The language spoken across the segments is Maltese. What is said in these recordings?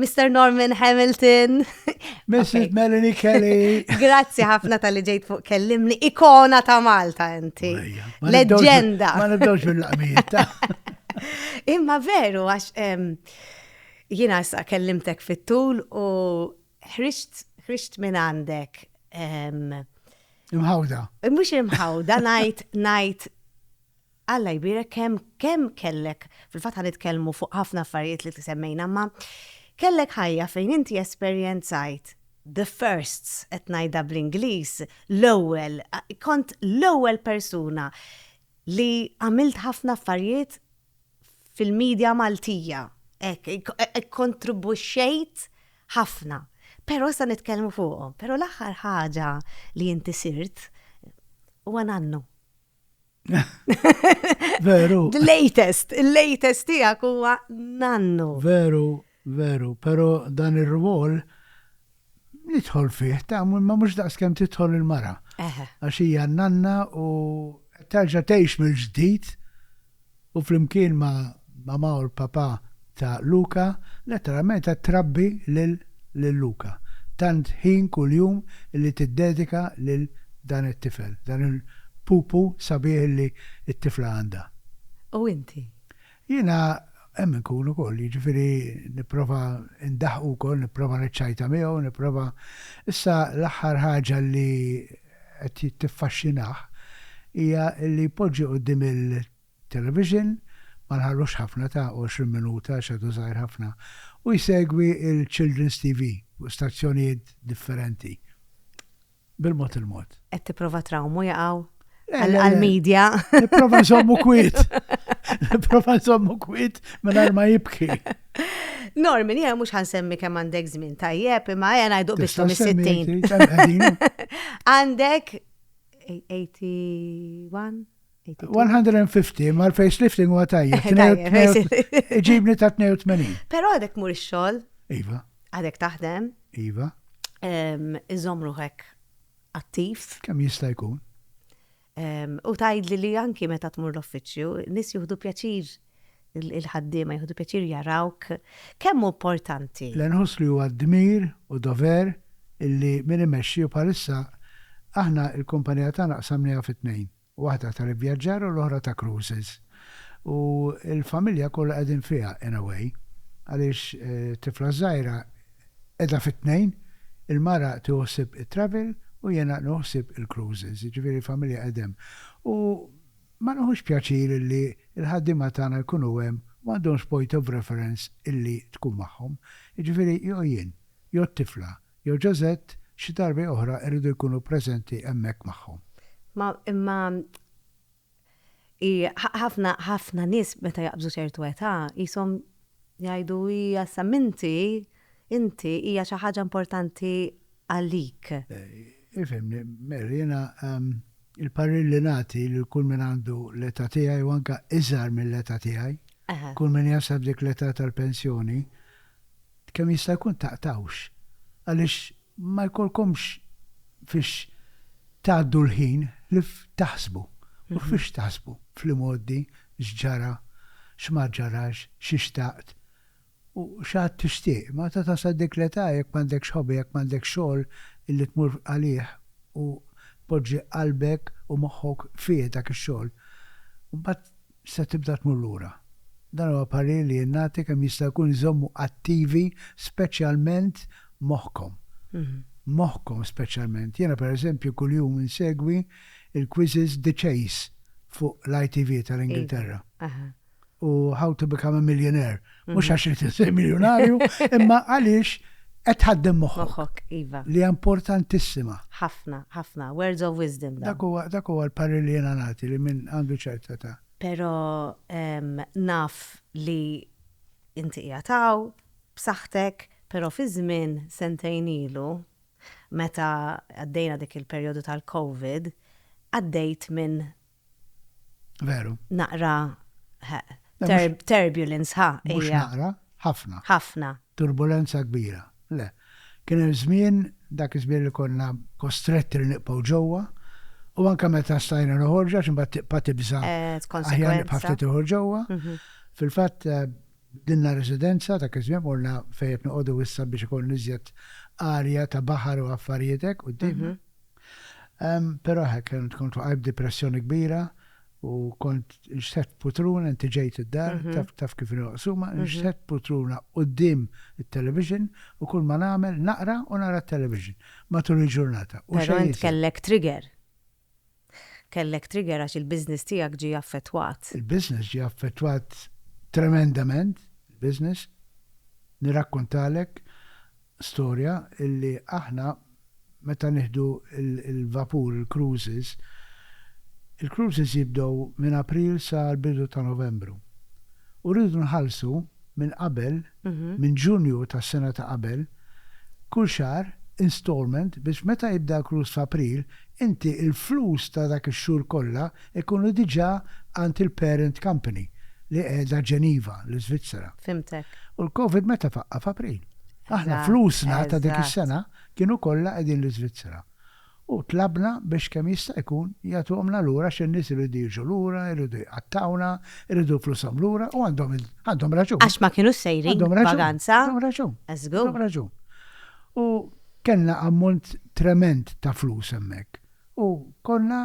Mr. Norman Hamilton. Mrs. Melanie Kelly. Grazzi ħafna tal-li ġejt fuq kellimni. Ikona ta' Malta inti. Leggenda. Ma nibdawx mill-laqmijiet. Imma veru, għax jina sa' kellimtek fit-tul u ħriġt minn għandek. Imħawda. Mux imħawda, najt, najt Alla jbierek kemm kemm kellek, fil-fatt ħanitkellmu fuq ħafna affarijiet li semmejna, imma kellek ħajja fejn inti esperjenzajt the firsts, qed ngħidha bl-Ingliż, l-ewwel, kont l-ewwel persuna li għamilt ħafna affarijiet fil-media Maltija, hekk, ikkontribwixxejt ħafna. Però issa nitkellmu fuqhom. Però l-aħħar ħaġa li inti sirt huwa nannu. Veru. The latest, il-latest tijak huwa nannu. Veru, veru, pero dan ir-rwol nidħol fih, ta' ma mux daqs kem titħol il-mara. Għax hija nanna u terġa' tgħix mill-ġdid u flimkien ma' Mamà u l-Papà ta' Luca, letteralment qed trabbi lil Luca. Tant ħin kuljum li tiddedika lil dan it-tifel, dan il-pupu sabiħ li t-tifla għandha. U inti? Jiena hemm inkun ukoll, jiġifieri nipprova ndaħħqu wkoll, nipprova niċċajta miegħu, nipprova. Issa l-aħħar ħaġa li. qed tiffaxxinah hija li jpoġġi quddiem il-television, ma nħallux ħafna ta' għoxrin minuta għax għadu żgħir ħafna, u jsegwi l-Children's TV fuq stazzjonijiet differenti bil-mod il-mod. Qed tipprova trawmu jaqaw għall-media. Nipprova nżommu kwiet. Nipprova nżommu kwiet mingħajr ma jibki. Norman, jgħu mux ħansemmi kem għandek zmin tajjeb, imma jgħu għajdu biex tum 60. Għandek 81? 150, ma l-face lifting huwa tajjeb. Ġibni ta' 82. Pero għadek mur ix-xogħol. Iva. Għadek taħdem. Iva. Iżom ruħek attiv. Kemm jista' jkun? U tgħidli li anki meta tmur l-uffiċċju, nies jieħdu pjaċir, il-ħaddiema jieħdu pjaċir jarawk. Kemm hu importanti! Le nħoss li huwa dmir u dover illi min imexxi u bħalissa aħna l-kumpanija tagħna qsamnieha fi tnejn, waħda tal-ivvjaġġar u l-oħra ta' cruises. U l-familja kollha qegħdin fiha in a way għaliex tifla żgħira, Qiegħda fit-tnejn, il-mara tieħu ħsieb it-travel u jiena nieħu ħsieb il-cruises, jiġifieri l-familja qegħda hemm. U ma nieħux pjaċir illi l-ħaddiema tagħna jkunu hemm u m'għandhomx point of reference illi tkun magħhom. Jiġifieri jew jien, jew t-tifla, jew Ġożett xi darbi oħra rridu jkunu preżenti hemmhekk magħhom. Ma imma Ħafna, ħafna nies meta jaqbżu ċertu età qishom jgħidu hija issa m'inti, inti hija xi ħaġa importanti għalik. Ifhimni, Mary, jiena l-parir li nagħti lil kull min għandu l-età tiegħi u anke iżgħar mill-età tiegħi, kull min jasal f'dik l-età tal-pensjoni, kemm jista' jkun taqtgħux. Għaliex Ma jkollkomx fiex tgħaddu l-ħin li taħsbu. U fiex taħsbu fl-imgħoddi x'ġara, x'ma ġarax, xi xtaqt u x'għad tixtieq. Meta tasal dik l-età jekk m'għandekx hobby, jekk m'għandekx xogħol li tmur għalih u tpoġġi qalbek u moħħok fih dak ix-xogħol, imbagħad se tibda tmur lura. Dan huwa parir li jien nagħti kemm jista' jkun iżommu attivi speċjalment moħħkom. Moħħkom speċjalment. Jiena pereżempju kuljum insegwi l-quizzes The Chase fuq l-ITV tal-Ingilterra u How to Become a Millionaire. Mhux mhm. għax irid isir miljonarju, imma għaliex qed ħaddem moħħok. Iva. Li importantissima. Ħafna, ħafna, words of wisdom. Dak huwa dak huwa l-parri li jiena nagħti li minn għandu ċerta ta'. Però naf li inti jataw, b'saħħtek, però fi żmien sentejn ilu meta għaddejna dik il-perjodu tal-COVID, għaddejt minn Veru. Naqra turbulence, ha. Mhux naqra, ħafna. Ħafna. Turbulenza kbira. Le. Kien hemm żmien, dak iż-żmien li konna kostretti li nibqgħu ġewwa, u anke meta stajna noħorġu għax imbagħad tibqa' tibża' aħjar nibqa' ftit toħorġ ġewwa. Mhm. Fil-fatt eh, dinna residenza ta' kizmien morna fejn qed noqogħdu issa biex ikun iżjed arja ta' baħar u affarijietek u d mhm. Però hekk, kont waqajb depressjoni kbira u kont nxtet putruna, inti ġejt id-dar, mhm. taf kif nqsuma, mhm. nxtet putruna qoddim il-television u kull ma nagħmel naqra u nara television matul il-ġurnata. Però int kellek trigger. Kellek trigger għax il-biznis tiegħek ġie affettwat. Il-biznis ġie affettwat tremendament, il-biznis, nirakkontalek, storja illi aħna meta nieħdu l-vapur, il-cruises, il-cruises jibdew minn April sa l-bidu ta' Novembru. U rridu nħallsu minn qabel, minn Ġunju tas-sena ta' qabel, kull xahar installment biex meta jibda l-cruise f'April, inti l-flus ta' dak ix-xhur kollha jkunu diġà għand il-parent company li qiegħda Geneva, l-Iżvizzera. Fhimtek. U l-Covid meta faqqa'? F'April. Aħna flusna ta' dik is-sena kienu kollha qegħdin l-Iżvizzera u tlabna biex kemm jista' jkun jagħtuhomna lura għax in-nies iridu jiġu lura, iridu jqattgħuna, iridu flushom lura u għandhom għandhom raġun. Għax ma kinux sejrin vaganza. Għandhom raġun. Eżgu. Għandhom raġun. U kellna ammont tremend ta' flus hemmhekk u konna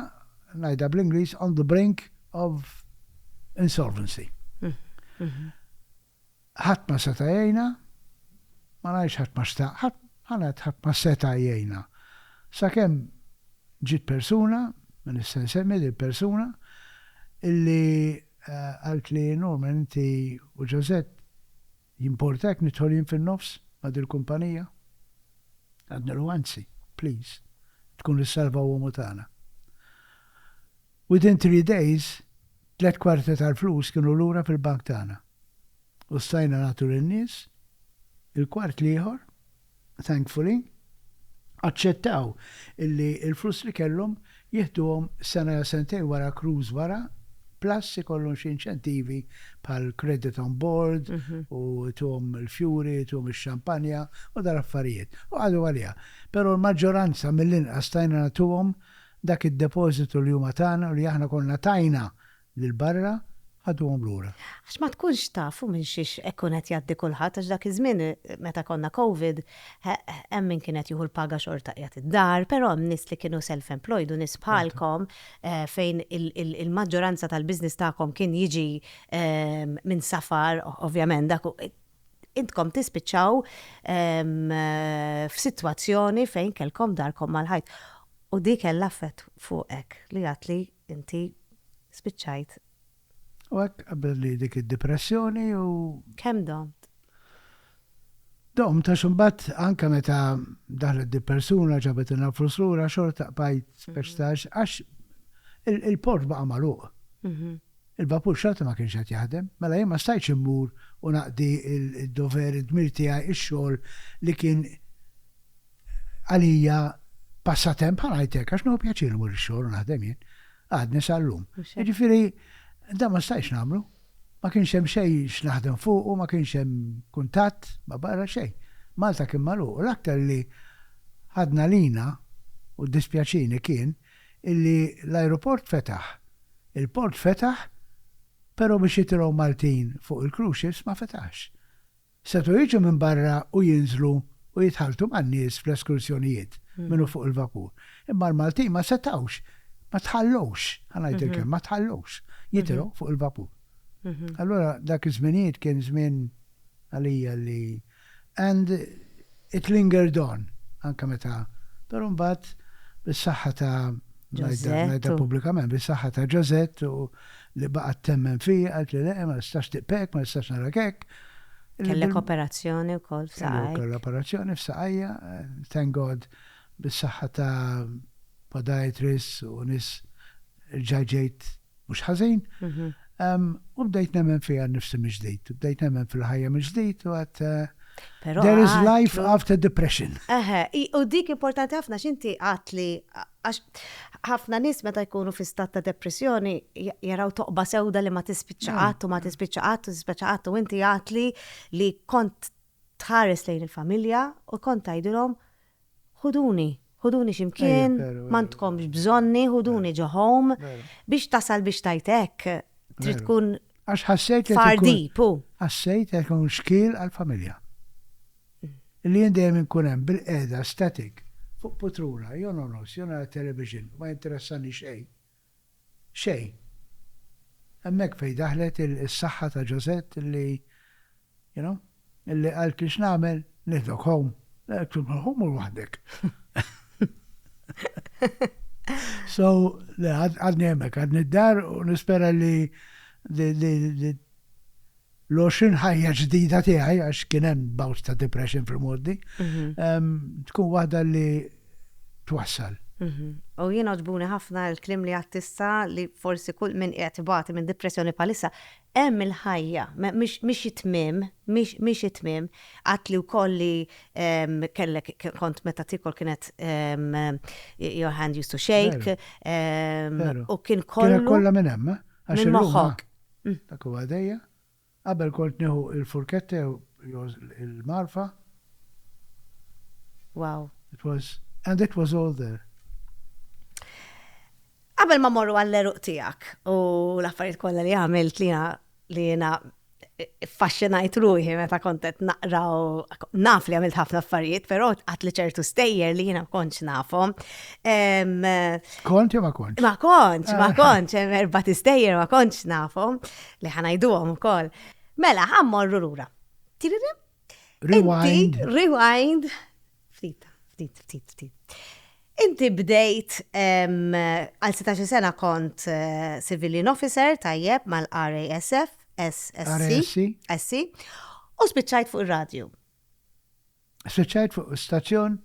ngħidha bl-Ingliż on the brink of insolvency. Ħadd ma seta' jgħinha, ma ngħidx ħadd ma xtaq, ħadd, ħa ngħid ħadd ma seta' jgħinha. Sakemm ġiet persuna, ma nista' nsemmi lill-persuna, illi qaltli, Norman inti u Josette jimporta jekk nidħol jien fin-nofs ma' dil-kumpanija? Għadnilhom anzi, please, tkun issalva uomo tagħna. Within three days, tliet kwarti tal-flus kienu lura fil-bank tagħna u stajna nagħtu lin-nies il-kwart l-ieħor, thankfully, aċċettaw illi l-flus li kellhom jieħduhom sena jew sentejn wara cruise wara, plus ikollhom xi inċentivi bħal credit on board u ituhom il-fjuri, ituhom ix-xampanja u dal-affarijiet. U qagħdu għaliha. Però l-maġġoranza mill-inqas stajna nagħtuhom Dak id-depożitu li huma tana u li aħna konna tajna lil barra, ħaduhom lura. Għax ma tkunx taf u minn xiex ikun qed jgħaddi kulħadd għax dak iż-żmien meta konna covid hemm min kien qed jieħu l-paga xorta qiegħed id-dar, però hemm nies li kienu self-employed u nies bħalkom fejn il-maġġoranza tal-business tagħkom kien jiġi minn safar ovvjament dak intkom tispiċċaw f'sitwazzjoni fejn kellkom darkom mal-ħajt. U di kellha effett fuqek li għad li inti spiċċajt. U hekk qabbilli dik id-dipressjoni u. Kemm domt? Domt għax imbagħad anke meta daħlet di persuna ġabet inha flus lura xorta qbajt speċtax għax il-port baqa' magħluq. Il-vapur xorta ma kienx qed jaħdem, mela jien ma stajtx immur u naqdi d-dover, id-dmir tiegħi, ix-xogħol li kien għalija passatemp, bħal ngħid hekk, għax nieħu pjaċir immur ix-xogħol u naħdem jien. Għadni sal-lum. Jiġifieri dan ma stajtx nagħmlu. Ma kienx hemm xejn x'naħdem fuq u ma kienx hemm kuntatt ma barra xejn. Malta kien magħluq u l-aktar li ħadna lina u dispjaċini kien illi l-ajruport fetaħ, il-port fetaħ pero biex jitilgħu Maltin fuq il-cruise ships ma fetaħx. Setgħu jiġu minn barra u jinżlu u jitħalltu man-nies fl-eskursjonijiet minn u fuq il-vapur. Imma l-Maltin ma setgħux, ma tħallewx, ħa ngħid il-kelma, ma tħallewx jitilgħu fuq il-vapur. Allura dak iż-żminijiet kien żmien għalija li and it lingered on anke meta però mbagħad bis-saħħa ta' ngħidha pubblikament bis-saħħa ta' Josette u li baqgħet temmen fija qalet li le ma nistax tiqp hekk, ma nistax narak hekk. Kellek operazzjoni wkoll f'saqajk. Kelli operazzjoni f'saqajja, thank God bis-saħħa ta' podiatrists u nies rġa' ġejt mhux ħażin, u bdejt nemmen fija nnifsi mill-ġdid, bdejt nemmen fil-ħajja mill-ġdid u għad There is life after depression. Eħe, u dik importanti ħafna x'inti għat li għax ħafna nies meta jkunu fi stat ta' depressjoni jaraw toqba sewda li ma tispiċċa qatt u ma tispiċċa qatt u tispiċċa qatt u inti għat li li kont tħares lejn il-familja u kont tgħidilhom Ħuduni, ħuduni xi mkien, m'għandkomx bżonni, ħuduni ġo home, biex tasal biex tgħid hekk, trid tkun far deep, hu. Ħassejt qed ikun xkiel għall-familja. Li jien dejjem inkun hemm bilqiegħda static fuq putrula, jew nogħnos, jew nara t-television, ma jinteressani xejn. Xejn. Hemmhekk fejn daħlet is-saħħa ta' Josette illi, you know, illi qaltli x'nagħmel, nieħdok home. Hu mur waħdek. So, għadni hemmhekk, għadni d-dar u nispera li l-20 ħajja ġdida tiegħi għax kien hemm bouts ta' depression fil-modi, tkun waħda li twassal. U jien oġbuni ħafna l-klim li għattista li forsi kull minn qiegħed ibati minn depressjoni bħalissa hemm il-ħajja, mhix it-tmiem, mhix it-tmiem, għadt li wkoll li kellek kont meta tikol kienet your hand used to shake u kien kollu. Kien kollha minn hemm, għax il-moħħok. Ih, dak huwa jdejja. Qabel kont nieħu l-furketta jew il-magħrfa. Wow. It was, and it was all there. Qabel ma morru għall-eruq tiegħek u l-affarijiet kollha li għamilt li li jiena faxxinajt ruħi meta kontet naqra u naf li għamilt ħafna affarijiet, però għat li ċertu stejjer li jiena kontx nafhom. Kont jew ma kontx? Ma kontx, ma eh. kontx, erba tistejjer ma kontx nafhom li ħanajduhom ukoll. Mela, ħammorru lura. Tiririm? Rewind. Rewind. Ftit, ftit, ftit, ftit. Inti bdejt għal 16 sena kont eh, civilian officer tajjeb mal-RASF, SSC, SC, u spiċċajt fuq ir-radju. Spiċċajt fuq stazzjon,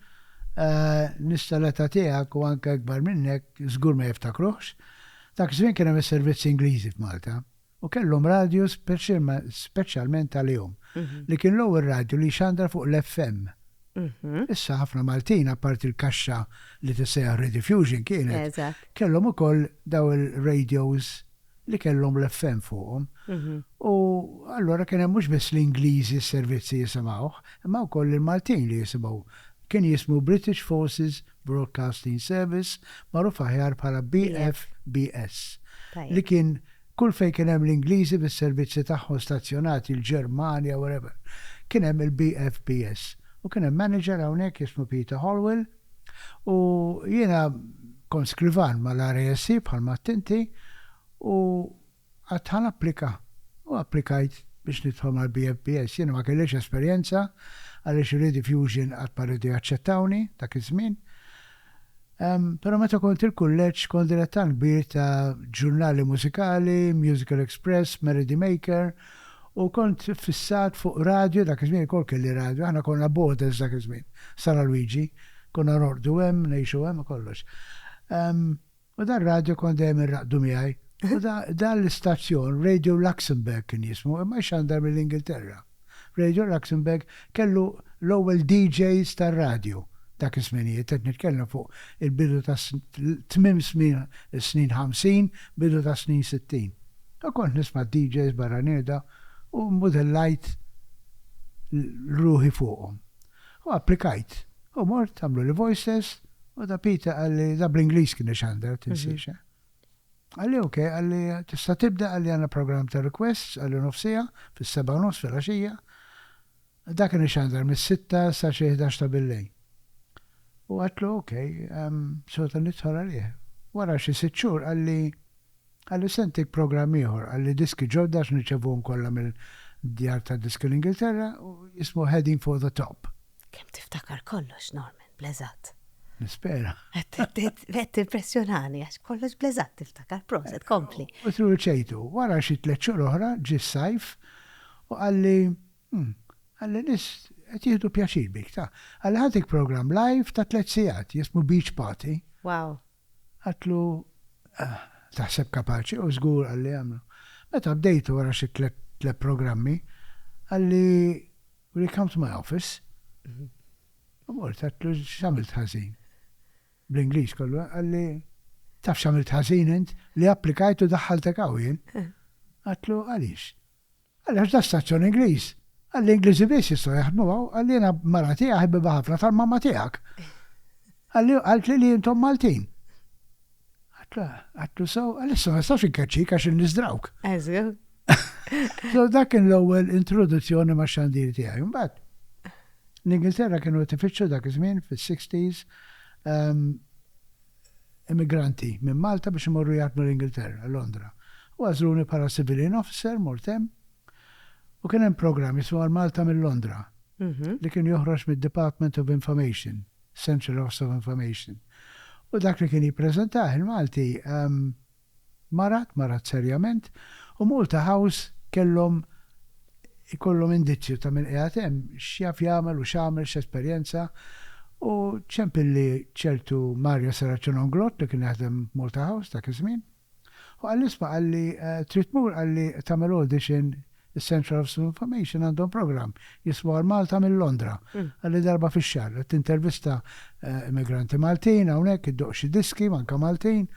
nies tal-età tiegħek u anke ikbar minnek żgur ma jiftakruhx, dak iż-żmien kien hemm is-servizzi Ingliżi f'Malta u kellhom radju speċjalment għalihom, li kien l-ewwel radju li jxandar fuq l-FM. Issa ħafna Maltin, apparti l-kaxxa li tissejjaħ Rediffusion kienet, kellhom ukoll dawn ir-radios. li kellhom l-FM fuqhom. U allura kien hemm mhux biss l-Ingliżi s-servizzi jisimgħuh, imma wkoll il-Maltin li jisimgħu. Kien jismu British Forces Broadcasting Service, magħruf aħjar bħala BFBS, li kien kull fejn kien hemm l-Ingliżi bis-servizzi tagħhom stazzjonati, l-Ġermanja, wherever, kien hemm il-BFBS. U kien hemm manager hawnhekk jismu Peter Holwell. U jiena kont skrivan mal-RASC bħal ma għedt inti u għedt ħa napplika u applikajt biex nidħol mal-BFBS. Jiena ma kellix esperjenza għaliex Rediffusion qatt ma riedu jaċċettawni dak iż-żmien. Però meta kont il-kulleġġ kont dilettant kbir ta' ġurnali mużikali, Musical Express, Melody Maker, U kont fissat fuq radju, dak iż-żmien ukoll kelli radju, aħna konna boarders dak iż-żmien, San Alwiġi, konna norqdu hemm, ngħixu hemm u kollox. U dan radju kont dejjem inraqqdu miegħi. U dan l-istazzjon, Radio Luxembourg kien jismu, imma jxandar mill-Ingilterra. Radio Luxembourg kellu l-ewwel DJs tar-radju dak iż-żminijiet, qed nitkellem fuq il-bidu ta' tmiem snin ħamsin, bidu tas-snin sittin. Ta' kont nisma' d-DJs barra neda u mmudellajt l ruħi fuqhom. U applikajt. U mort għamluli voice test u ta' Pete qalli da' bl-Ingliż kien ixandar, tinsiex eh. Qalli ok, qalli tista' tibda qalli għandna programm ta' requests qalli nofsiegħa fis-sebgħa u nofs filgħaxija. Dak kien ixandar mis-sitta sa xi ħdax ta' billejl. U għedtlu ok, sota nidħol għalih. Wara xi sitt xhur qalli, qalli se ntik programm ieħor, qalli diski ġodda għax nirċevuhom kollha mill-djar tad-diski l-Ingilterra, jismu Heading for the Top. Kemm tiftakar kollox, Norman, bl-eżatt. Nispera. Qed timpressjonani għax kollox bl-eżatt tiftakar, proset, kompli. U tru ċejtu, wara xi tliet xhur oħra ġie s-sajf u qalli, Umm. Għalli nies qed jieħdu pjaċir bik, ta. Għalli ħadek programm live ta' tliet sigħat jismu Beach Party. Wow. Għadtlu, Ah, taħseb kapaċi? U żgur għalli għamlu. Meta bdejtu wara xi tliet tliet programmi, għalli, Will you come to my office? U mort, għadtlu, X'għamilt ħażin? Bl-Ingliż kollu, eh? Għalli, Taf x'għamilt ħażin int? Li applikajt u daħħaltek hawn jien. Għadtlu, Għaliex? Għaliex da stazzjon Ingliż. Għalli Ingliżi biss jistgħu jaħdmu hawn, għalli jiena mara tiegħi ħbiba ħafna tal-mamma tiegħek. Għalli qaltli li intom Maltin. Għatla, għatlu sew, għalissa ma nistax inkaċċik għax in-nies drawk. Eżil. So dak kien l-ewwel introduzzjoni ma' xandir tiegħi. Mbagħad l-Ingilterra kienu tifittxu dak iż-żmien fis-60s ehm, emigranti minn Malta biex imorru jaħdmu l-Ingilterra, Londra, u għażluni bħala civilian officer, mort hemm, u kien hemm programm jismu Għal Malta minn Londra, li kien joħroġ mid-Department of Information, Central Office of Information, u dak li kien jippreżentah il-Malti, Marat, marat serjament, u Malta House kellhom ikollhom indizju ta' min qiegħed hemm, x'jaf jagħmel u x'għamel, x'esperjenza, u ċempilli ċertu Mario Serraċiononglot li kien jaħdem Malta House dak iż-żmien, u qalli isma' qalli trid tmur qalli tagħmel audition Is-Centre of Sue Information għandhom programm jismu Għal Malta minn Londra, għalli darba fix-xahar, qed tintervista immigranti Maltin hawnhekk, iddoqq xi diski, manka Maltin.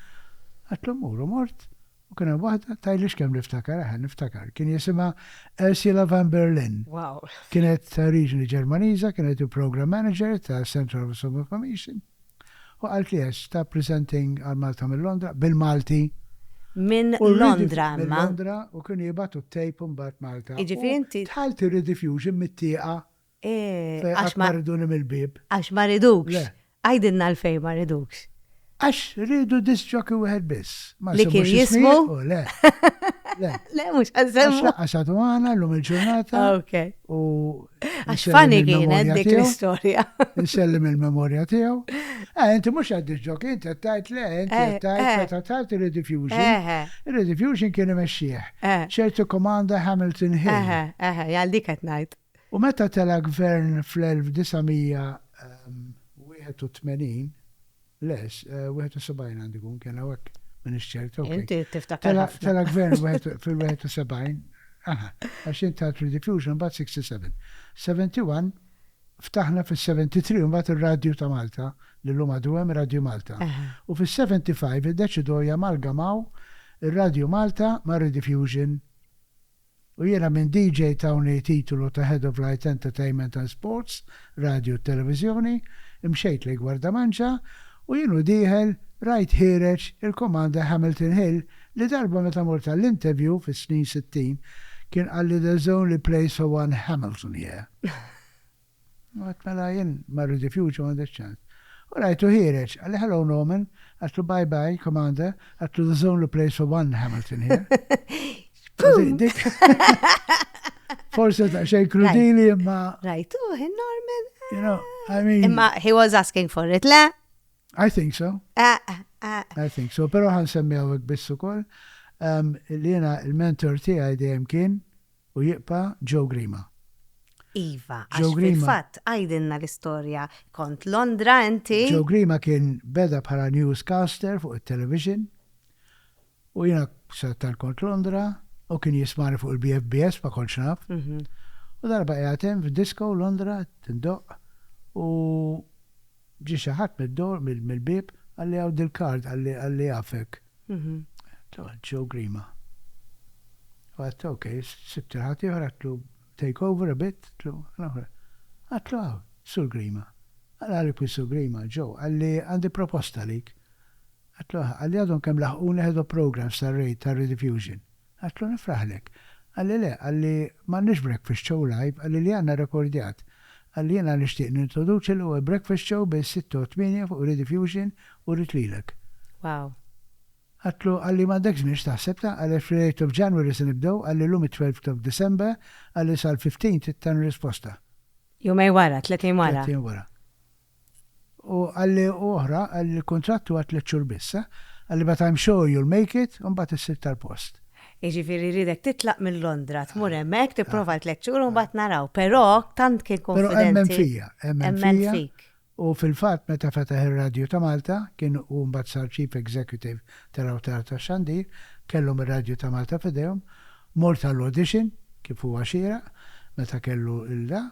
Għedtlu mmur u mort, u kien hemm waħda, tgħidli x'kemm niftakar, eħe niftakar, kien jisimha Ursula van Berlin. Kienet ta' oriġini Ġermaniża, kienet il-Programme Manager tas-Centre of Sue Information. Hu qaltli qed stop presenting għal Malta minn Londra, bil-Malti. Minn Londra imma. Minn Londra u kienu jibgħatu t-tape imbagħad Malta. Jiġifieri inti. U dħalt ir-rediffusion mit-tieqa. Eeh. Qatt ma riduni mill-bieb. Għax ma ridukx. Le. Għidilna għalfejn ma ridukx. Għax riedu disc jockey wieħed biss. Ma nsemmux ismijiet. Li kien jismu? Le. Le. Le mhux ħa nsemmu. Għax laqqas għadu magħna llum il-ġurnata. Okej. U Għax fani kienet dik l-istoria. Nsellim il-memorja tiegħu. Eh, inti mhux għad ġok, inti qed tajt le, inti eh, qed tajt meta eh. tajt rediffusion. Rediffusion kien imexxieħ. ċertu komanda Hamilton Hill. Għal dik qed ngħid. U meta tela gvern fl-1981, Le, 71 għandu jkun kien hawnhekk minix ċert, ok. Inti tiftakar ħafna. Tela' gvern fil-71, aha, għax int għedt Rediffusion mbagħad 67. 71 ftaħna fis-73 mbagħad ir-radju ta' Malta li llum għadu hemm Radju Malta. U fis-75 iddeċidew jamalgamaw ir-Radju Malta mar-Rediffusion U jiena minn DJ tawni titulu ta' Head of Lights Entertainment and Sports, Radju u Televiżjoni, imxejt lejn Gwardamanġa u jien u dieħel rajt ħiereġ il-Commander Hamilton Hill li darba meta mort għall-interview fis-snin sittin kien qalli there's only place for one Hamilton here. Għedt mela jien ma rridifjux u m'għandix ċans. U rajtu ħiereġ, qalli hello Norman, għedtlu bye bye Commander, għedtlu there's only a place for one Hamilton here. Dik. Forse ta' xejn krudili imma. Rajtu hi Norman. You know, I mean. Imma he was asking for it, le? I think so. Eh, eh, eh. I think so, pero ħan semmi għawek bissu kol. Li jena il-mentor tiegħi dejjem kien U jibqa' Joe Grima. Iva, għax fil-fatt għidilna l-istorja kont Londra inti. Joe Grima kien beda bħala newscaster fuq it-television u jiena sadattant kont Londra u kien jismagħni fuq il-BFBS ma kontx naf. U darba qiegħed hemm f'disco Londra qed indoqq u ġie xi ħadd mid-door mill-bieb qalli hawn dil-card qalli jafek. Tqgħod Joe Grima. U għedt ok, sibt il-ħadd ieħor għedtlu take over a bit, għedtlu l-oħra. Għedtlu hawn, Sur Grima. Qalli kif Sur Grima, Joe, qalli għandi proposta għalik. Għedtlu aha, qalli għadhom kemm laħquni head of programmes tar-raid tar-rediffusion. Għedtlu nifraħlek. Qalli le, qalli m'għandniex breakfast show live, qalli li għandna rekordjat. Qalli jiena nixtieq nintroduċi l-ewwel breakfast show bejn sitta u tmienja fuq Rediffusion u rrid lilek. Wow! Għedtlu, qalli m'għandekx biex taħseb ta', qalli għax fl-eighth of January se nibdew, qalli llum it-twelfth of December, qalli sal-fifteenth trid tagħmel risposta. Jumejn wara, tletin wara. Tletin wara. U qalli u oħra, qalli li l-kuntratt huwa tliet xhur biss, eh. Qalli but I'm sure you'll make it u mbagħad issib tal-post. Jiġifieri jridek titlaq minn Londra, tmur hemmhekk, tipprova għal tliet xhur u mbagħad naraw. Però tant kien konfidenti. Però emmen fija, emmen fija. U fil-fatt meta fetaħ ir-radju ta' Malta, kien hu mbagħad sar chief executive tal-awtar tax-xandir, kellhom ir-radju ta' Malta f'idejhom, mort għall-audition, kif huwa xieraq, meta kellu l-da,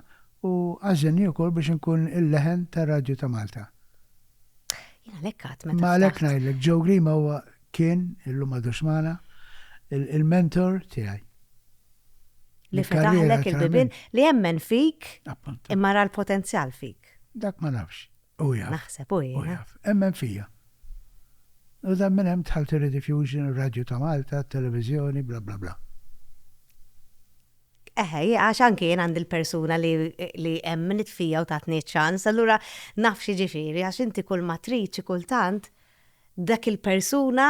U għażilni wkoll biex inkun il-leħen tar-radju ta' Malta. Jien għalhekk għad meta. Imma għalhekk ngħidlek, Joe Grima huwa, kien, illum m'għadux magħna, il-mentor tiegħi. Li fetaħlek il-bibien, li emmen fik, imma ra l-potenzjal fik. Dak ma nafx. U jaf. Naħseb u jaf. Emmen fija. U dan minn hemm tħalti Rediffusion, Radju ta' Malta, Televizjoni, bla bla bla. Eħe, għax anki jien għandi l-persuna li li emmnet fija u tatni ċ-ċans, allura naf x'jiġifieri għax inti kull ma trid xi kultant dak il-persuna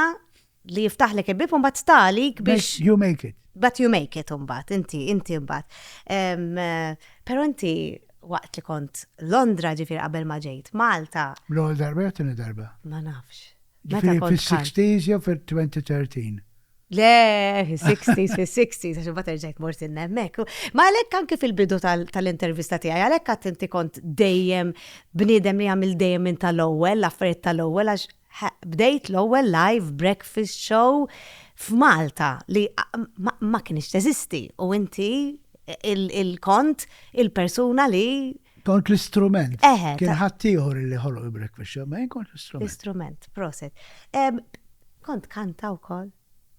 li jiftaħlek il-bieb u mbagħad tsta' għalik biex. You make it. But you make it mbagħad, inti, inti mbagħad. Però inti waqt li kont Londra ġifieri qabel ma ġejt Malta. L-ewwel darba jew t-tieni darba? Ma nafx. Meta kont tħall. Fis-60s jew fil-2013? Le, fil-60s, fil-60s, għax bat erġajt mort innemmek. Ma għalek anki fil-bidu tal-intervista tiegħi, għalek għat inti kont dejjem bniedem li għamil dejjem minn tal-ewwel, l-affarijiet tal-ewwel, għax bdejt l-ewwel live breakfast show f'Malta li ma kienx teżisti u inti il-kont il-persuna li Kont l-istrument. Eħe. Kien ħaddieħor li ħoloq il-breakfast show, ma jien kont l-istrument. L-istrument, proset. Kont kanta wkoll?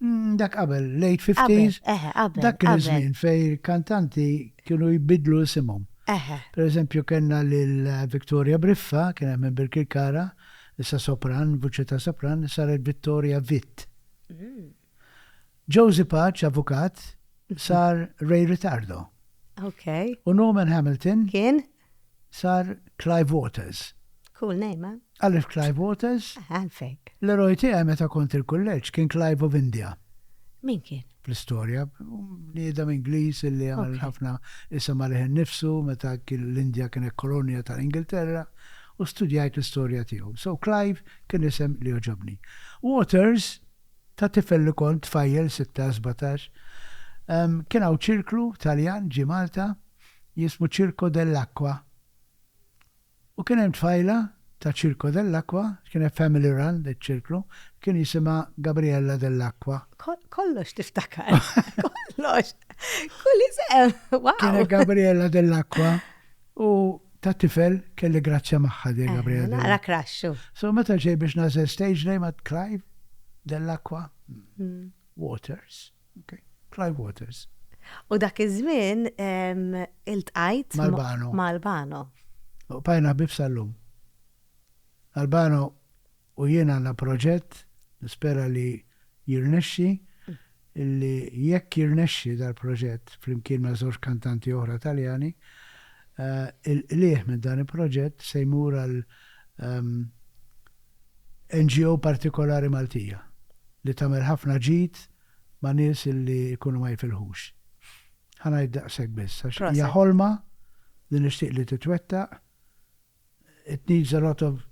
Mm, dak qabel, late 50s. Eħe, qabel. Dak kien żmien fej kantanti kienu jbidlu isimhom. Eħe. Per eżempju, kellna lil Victoria Briffa, kien hemm Birkirkara, issa sopran, vuċi ta' sopran, saret Vittoria Vitt. Mm. Josie Paċ, avukat, sar Ray Ritardo. Ok. U Norman Hamilton. Kien? Sar Clive Waters. Cool name, eh? Għalif Clive Waters? Għalfejk. L-eroj tiegħi meta kont il-kulleġġ kien Clive of India. Min kien? fl-istorja. Niedem Ingliż illi għamil ħafna isem għalih nifsu meta l-Indja kienet kolonja tal-Ingilterra u studjajt l-istorja tiegħu. So Clive kien isem li oġobni. Waters Ta' tifel li kont tfajjel sitta, sbatax, kien hawn ċirklu Taljan ġie Malta jismu Circo dell'Acqua u kien hemm tfajla ta' Circo dell'Acqua, kienet family run iċ-ċirklu, kien jisimha Gabriella dell'Acqua. Kollox tiftakar. Kollox. Kull isem. Wow. Kienet Gabriella dell'Acqua. U ta' tifel kelli grazzja magħha din Gabriele Delacqua. Naqra crush hu. So meta ġej biex nagħżel stage name għad Clive Dell'Acqua Waters. Okay. Clive Waters. U dak iż-żmien iltqajt ma' Albano. Bqajna ħbieb sal-lum. Albano U jien għandna proġett, nispera li jirnexxi, illi jekk jirnexxi dal-proġett flimkien ma' żewġ kantanti oħra Taljani, il-qligħ minn dan il-proġett se jmur għal NGO partikolari Maltija li tagħmel ħafna ġid ma' nies illi jkunu ma jifilħux. Ħa ngħid daqshekk biss għax hija ħolma li nixtieq li titwettaq It needs a lot of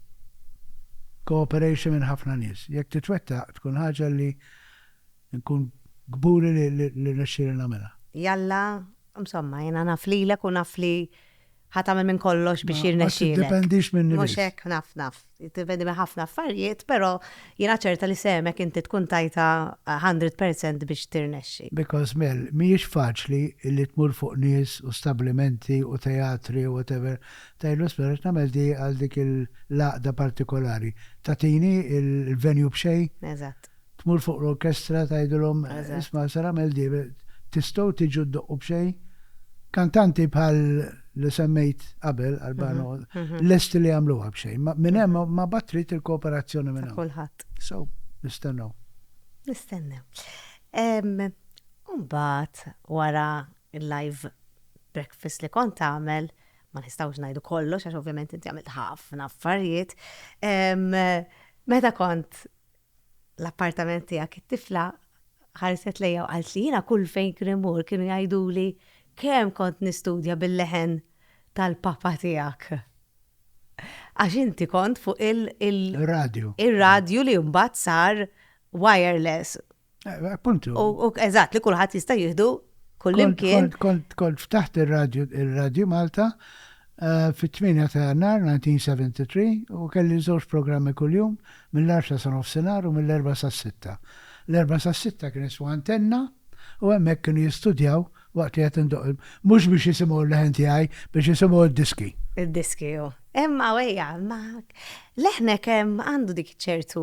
cooperation minn ħafna nies. Jekk titwettaq tkun ħaġa li nkun kburi li rnexxieli nagħmilha. Jalla, msomma, jiena naf lilek u naf li ħa tagħmel minn kollox biex jirnexxielek. Ma tiddependix minni biss. Mhux hekk, naf, naf. Tiddependi minn ħafna affarijiet, però jiena ċerta li sehmek inti tkun tajtha 100 percent biex tirnexxi. Because Mel, mhijiex faċli li tmur fuq nies u stablimenti u teatri u whatever Taylor Swift tagħmel di għal dik il-għaqda partikolari. Tagħtini l-venue b'xejn. Eżatt. Tmur fuq l-orkestra tgħidilhom isma' ser agħmel di, tistgħu tiġu ddoqqu b'xejn? Kantanti bħal li semmejt qabel Albano lesti li jagħmluha b'xejn. Minn hemm ma bad trid il-kooperazzjoni minn hawn. Kulħadd. So, nistennew. Nistennew. Mbagħad wara l-live breakfast li kont tagħmel, ma nistgħux ngħidu kollox għax ovvjament inti għamilt ħafna affarijiet. Meta kont l-appartament tiegħek it-tifla ħarset lejja u qalt li jiena kull fejn krimur kienu jgħiduli kemm kont nistudja bil-leħen tal-papa tiegħek. Għax inti kont fuq il-radio. Il-radio li mbagħad sar wireless Eh, appuntu. U eżatt li kulħadd jista' jieħdu kullimkien. Kont kont ftaħt ir-radju ir-radju Malta eh, fit-8 ta' Jannar 1973 u kelli żewġ programmi kuljum mill-10 sa nofsinhar u mill-4 sa 6. L-4 sa 6 kien iswa antenna u hemmhekk kienu jistudjaw waqt li qed indoq mhux biex jisimgħu l-leħen tiegħi biex jisimgħu d-diski. Id-diski, Imma wejja, ma leħnek għandu dik ċertu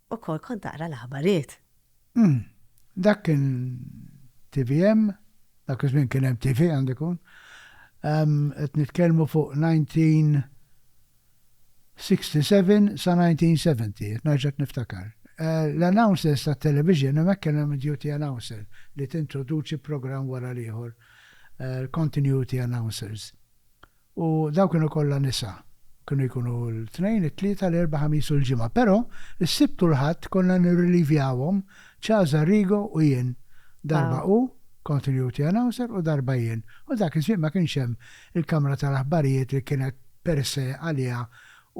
Ukoll kont naqra l-aħbariet. Umm. Dak kien tvm? Dak iż-żmien kien hemm TV għandu jkun. Umm, qed nitkellmu fuq 1967 sa 1970, qed nerġa' niftakar. L-announcers tat-television hemmhekk kellhom id-duty announcer li tintroduċi programm wara l-ieħor, continuity announcers. U dawn kienu kollha nisa. Kienu jkunu l-Tnejn, it-Tlieta, l-Erbgħa, Ħamis u l-Ġimgħa. Però, is-Sibt u l-Ħadd konna nirrilivjawhom, Cesar Rigo u jien. Darba hu, continuity announcer, u darba jien. U dak iż-żmien ma kienx hemm il-kamra tal-aħbarijiet li kienet per se għaliha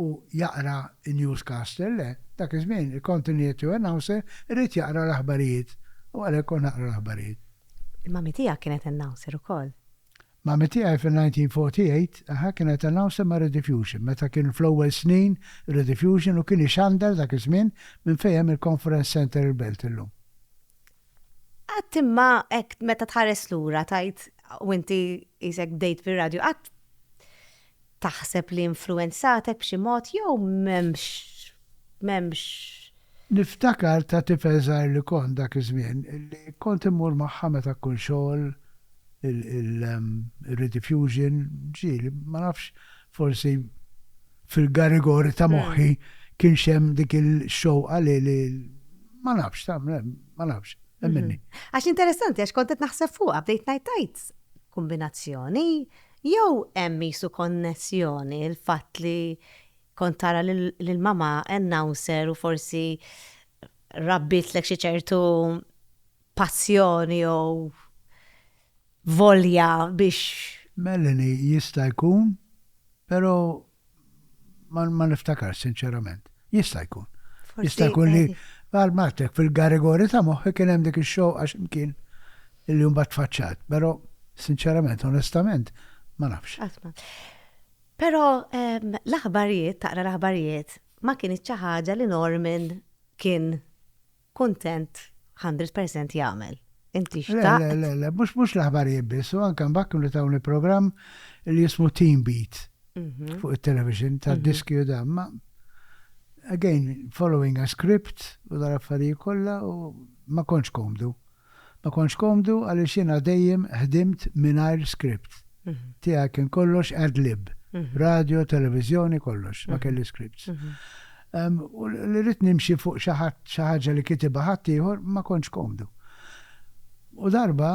u jaqra n-newscaster, le, dak iż-żmien il-continuity announcer irid jaqra l-aħbarijiet u għalhekk kont naqra l-aħbarijiet. Il-Mummy tiegħek kienet announcer ukoll. Mami tiegħi fin-1948, aha, kienet announcer ma' Rediffusion, meta kien fl-ewwel snin Rediffusion u kien ixandar dak iż-żmien minn fejn hemm il-Conference Centre il-Belt illum. Qatt imma hekk meta tħares lura tgħid, u inti qisek bdejt fir-radju, qatt Taħseb li influwenzatek b'xi mod jew m'hemmx m'hemmx. Niftakar ta' tifel żgħir li kont dak iż-żmien li kont immur magħha meta kkull xogħol ir-rediffusion ġieli ma nafx forsi fil-garigori ta' moħħi kienx hemm dik il-xewqa li li ma nafx ma nafx hemm minni. Għax interessanti għax kont qed naħseb fuqha bdejt ngħid tgħid kumbinazzjoni Jew hemm qisu konnessjoni, il-fatt li kont tara lil mamà announcer u forsi rabbitlek xi ċertu passjoni jew volja biex. Melanie, Jista' jkun, però ma niftakar sinċerament. Jista' jkun. Jista' jkun li għal matek fil-garigori ta' moħħi kien hemm dik ix-xow għax imkien il-jum bat faċċat, però sinċerament, onestament, ma nafx. Però l-aħbarijiet, taqra l-aħbarijiet, ma kien ħaġa li Norman kien kuntent hundred percent jagħmel. Inti xtaqt. Le, le, le, le, mhux mhux l-aħbarijiet biss, u anke mbagħad kienu tawni programm li jismu Team Beat fuq it-television tad-diski u dan, ma again following a script u dal-affarijiet kollha u ma kontx komdu. Ma kontx komdu għaliex jiena dejjem ħdimt mingħajr script. Tiegħi kien kollox ad lib. Radio, televiżjoni, kollox. Ma kelli scripts. U li rrid nimxi fuq xi ħadd, xi ħaġa li kitibha ħaddieħor, ma kontx komdu. U darba,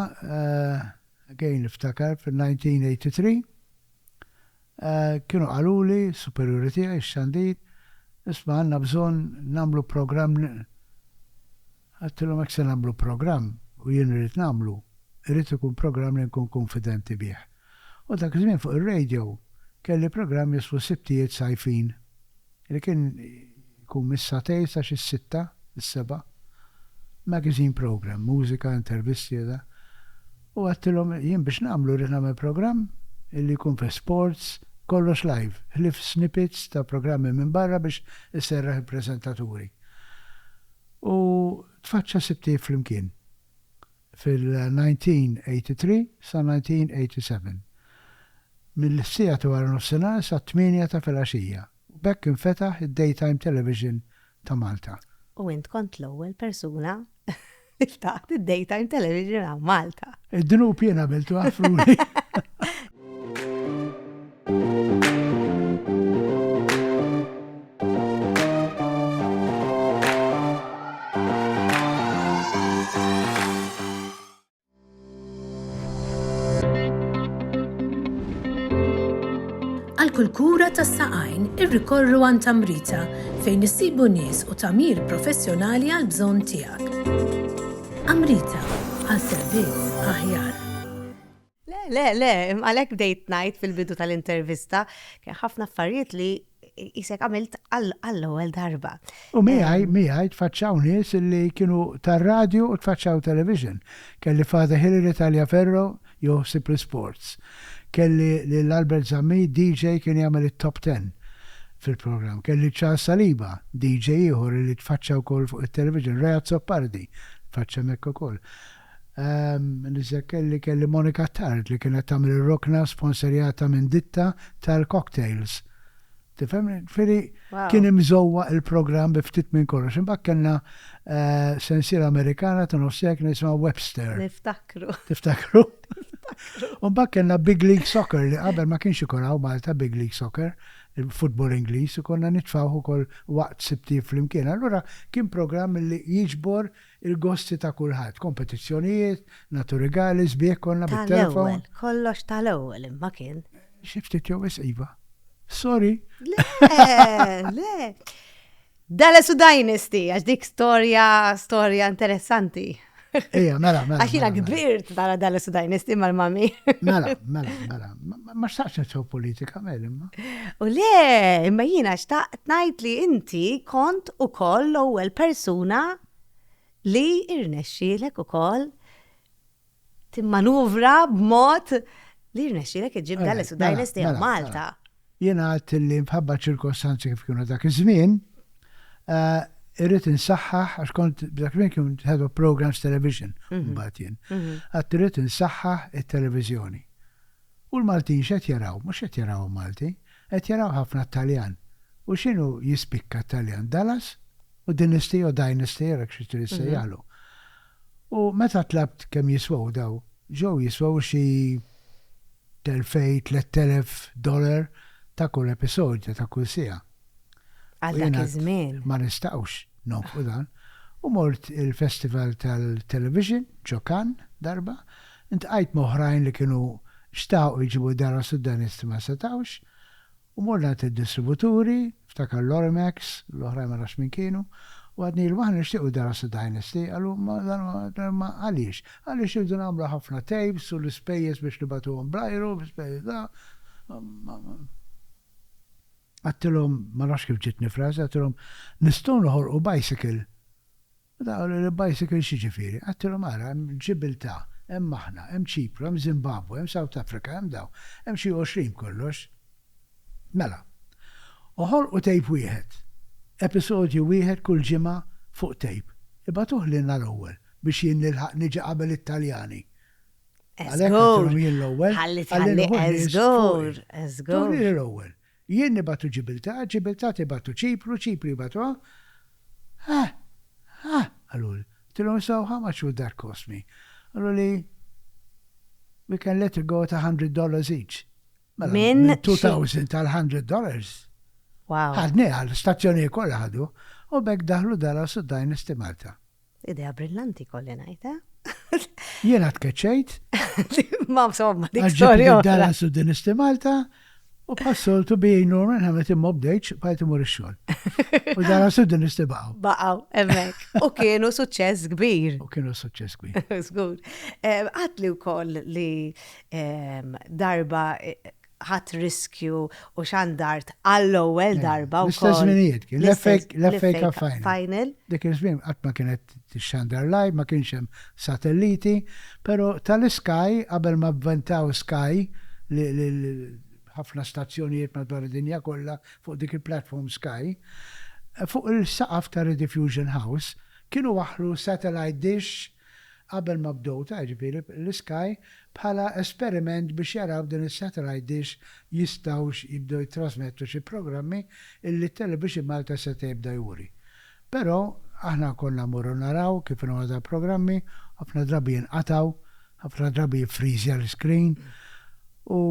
again niftakar fil-1983, kienu qaluli, superjuri tiegħi, ix-xandir, Isma' għandna bżonn nagħmlu programm, Għedtilhom jekk se nagħmlu programm, u jien irrid nagħmlu, irid ikun programm li nkun kunfidenti bih. U dak iż-żmien fuq ir-radio kelli programm jismu Sibtijiet Sajfin li kien jkun mis-satejn sa xi s-sitta, is-sebgħa. Magazine programm, mużika, intervisti u dak. U għedtilhom jien biex nagħmlu rrid nagħmel programm li jkun fih sports, kollox live, ħlief snippets ta' programmi minn barra biex iserraħ il-preżentaturi. U tfaċċa sitt ħtif flimkien fil-1983 sa 1987, mill-siegħa ta' waranofsinhar sat-tmienja ta' filgħaxija, u b'hekk infetaħ id-daytime television ta' Malta. U int kont l-ewwel persuna li ftaħt id-daytime television hawn Malta. Id-dnub jien għamiltu, Għafruni. kull kura tas saqajn irrikorru għan tamrita fejn issibu nies u tamir professjonali għal bżonn tiegħek. Amrita għal servizz aħjar. Le, le, le, għalhekk bdejt ngħid fil-bidu tal-intervista kien ħafna affarijiet li jisek għamilt għall-ewwel darba. U miħaj, miħaj, tfaċċaw nies li kienu tar-radju u tfaċċaw television. Kelli Father Hilary Taliaferro joħsib l-sports. Kelli lil Albert Zammit, DJ kien jagħmel it-top ten fil-programm. Kelli Charles Saliba, DJ ieħor li tfaċċa wkoll fuq it-television, Reat Soppardi, tfaċċa mekk ukoll. Nitzakker li kelli Monica Tard li kienet tagħmel ir-rokna sponserjata minn ditta tal-cocktails. Tifhemni? Ġifieri kien imżowwaq il-programm bi ftit minn kollox. Imbagħad kellna sensiela Amerikana ta' nofs seklu jisimha Webster. Niftakru. Tiftakru? U mbagħad kellna Big League Soccer li qabel ma kienx ikun hawn Malta Big League Soccer, il-futbol Ingliż, u konna nitfgħuh ukoll waqt sibtijiet flimkien. Allura kien programm li jiġbor Il-gosti ta' kulħadd, kompetizzjonijiet, naturigali, sbieħ konna bit-telefon. Ta' l-ewwel, kollox ta' l-ewwel imma kien. Xi ftit jew wisq iva. Sorry. Le, le. Dallas u Dynasty, għax dik storja, storja interessanti. Ija, mela, mela. Għax jina mela, mela. kbirt dara Dallas u Dynasty mal-mami. Mela, mela, mela. Ma xtaqx nitħu politika, mel imma. U le, imma jina xtaqt najt li inti kont u koll l-ewwel persuna li irnexxilek u koll timmanuvra b'mod li irnexxilek iġib dalles u dajles tiegħek Malta. Jina għat li mħabba ċirkostanzi kif kienu dak iż-żmien, eh, irrit insaħħaħ, għax kont dak minn kien head of programs television, mhm. mbagħad jien. Mhm. Għat irrit insaħħaħ it-televiżjoni. U l-Maltin x'qed jaraw? Mhux qed jaraw il-Malti, qed jaraw ħafna t-Taljan. U x'inhu jispikka t-Taljan? Dallas u Dinasty jew Dynasty jew hekk xi trid issejjaħlu. U meta tlabt kemm jiswew daw, ġew jiswew xi t'elfejn, tlett elef dollar ta' kull episodju, ta' kull siegħa. Għal dak iż-żmien. Ma nistgħux nonfqu dan. U mort il-festival tal-television ġo Cannes darba, intqajt ma' oħrajn li kienu xtaqu jġibu d-dara Sudanist ma setgħux, u mort ngħid lid-distributuri, ftakar l-Orimax, l-oħrajn ma nafx min kienu, u għadnilhom aħna nixtiequ d-dara Sudanisti, qalu ma għaliex? Għaliex irridu nagħmlu ħafna tapes u l-ispejjeż biex nibgħatuhom bl-ajru, l-ispejjeż da. Għedtilhom, ma nafx kif ġietni frażi, għedtilhom, nistgħu noħolqu bicycle? U dawn qaluli, bicycle x'jiġifieri? Għedtilhom, ara, hemm Ġibiltà, hemm aħna, hemm Ċipru, hemm Zimbabwe, hemm South Africa, hemm dawn, hemm xi għoxrin b'kollox. Mela, oħolqu tape wieħed, episodju wieħed kull ġimgħa fuq tape, ibagħtuh lilna l-ewwel biex jien nilħaq niġi qabel it-Taljani. Għalhekk għatilhom jien l-ewwel. Ħalli tħalli eżgur, eżgur. Turi li l-ewwel. Jien nibatu Ġibiltà, Ġibiltà tibatu Ċipru, Ċipru jibatuha. Ha! Ha! qaluli. Għatilhom so how much would that cost me? Qaluli we can let it go at $100 each. Mela, minn 2000 tal $100. Wow. Ħadni għal stazzjoni kollha ħadu u bekk daħlu dara suddajn istimalta. Idea brillanti kolli ngħid, eh? Jiena tkeċċejt. Ma somma dik storja. Għalġib dara su din isti Malta u passoltu bijin Norman ħamet imma bdejċ bħajt imur ix-xogħol. U dara su din isti baqgħu. Baqgħu, hemmhekk. U kienu suċċess kbir. U kienu suċċess kbir. Żgur. Għatli wkoll li darba ħadt riskju u xandart għall-ewwel eh, darba wkoll. L-istess żminijiet kien l-FA Cup Final. Dik iż-żmien qatt ma kienet xandar live, ma kienx hemm satelliti, però tal-Sky qabel ma bventaw Sky li ħafna stazzjonijiet madwar id-dinja kollha fuq dik il-platform Sky, fuq il-saqaf ta' Rediffusion House kienu waħlu satellite dish qabel ma bdew ta' jiġifieri l-Sky bħala esperiment biex jaraw din is-satellite dish jistgħux jibdew jittrasmettu xi programmi illi Television Malta seta' jibda juri. Però aħna konna mmorru naraw kif inhu għadha l-programmi, ħafna drabi jinqatgħu, ħafna drabi jiffriżja l-iscreen u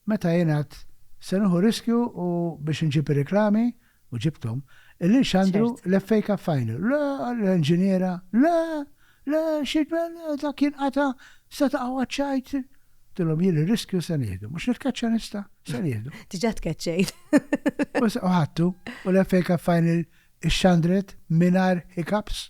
Meta jien għedt, Se nieħu riskju u biex inġib ir-reklami, u ġibthom, il-lil Xandru, l-FA Cup Final. Le! l-inġiniera, Le! Le! Xi tbel, le! Dak jinqata'! Se taqgħu għaċ-ċajt! Għedtilhom jien ir-riskju se nieħdu. Mhux nitkeċċa nista'? Se nieħdu. Diġà tkeċċejt. U ħadtu, u l-FA Cup Final ixxandret mingħajr hiccups.